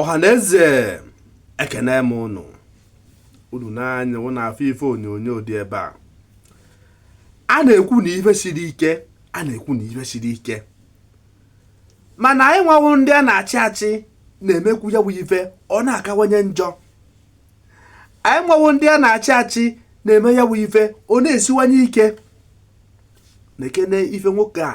ọhaneze ekene m ụnụ unu n'anya ụnụ afụ ife onyonyo dị ebe a a na-ekwu na ife siri ike a na-ekwu na ife siri ike mana anyị nwa wụ ndị a na-achị achị na-emekwu ya bụ ife ọ na-akawanye njọ anyị nwa wụ ndị a na-achị achị na-eme ya bụ ife ọ na-esiwanye ike nekene ife nwoke a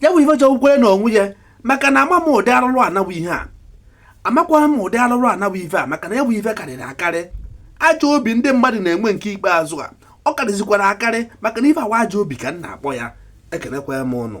ya bụ ife jọgbukwere na onwe ya maka na ama m ụdị arụrụ ana bụ ihe a amakwa m ụdị arụrụ ana bụ ife a maka na ya bụ ife karịrị akarị ajọ obi ndị mmadụ na-enwe nke ikpeazụ a ọ karịzikwara akarị maka na ife anwa ajọ obi ka m na-akpọ ya ekenekwa m ụnụ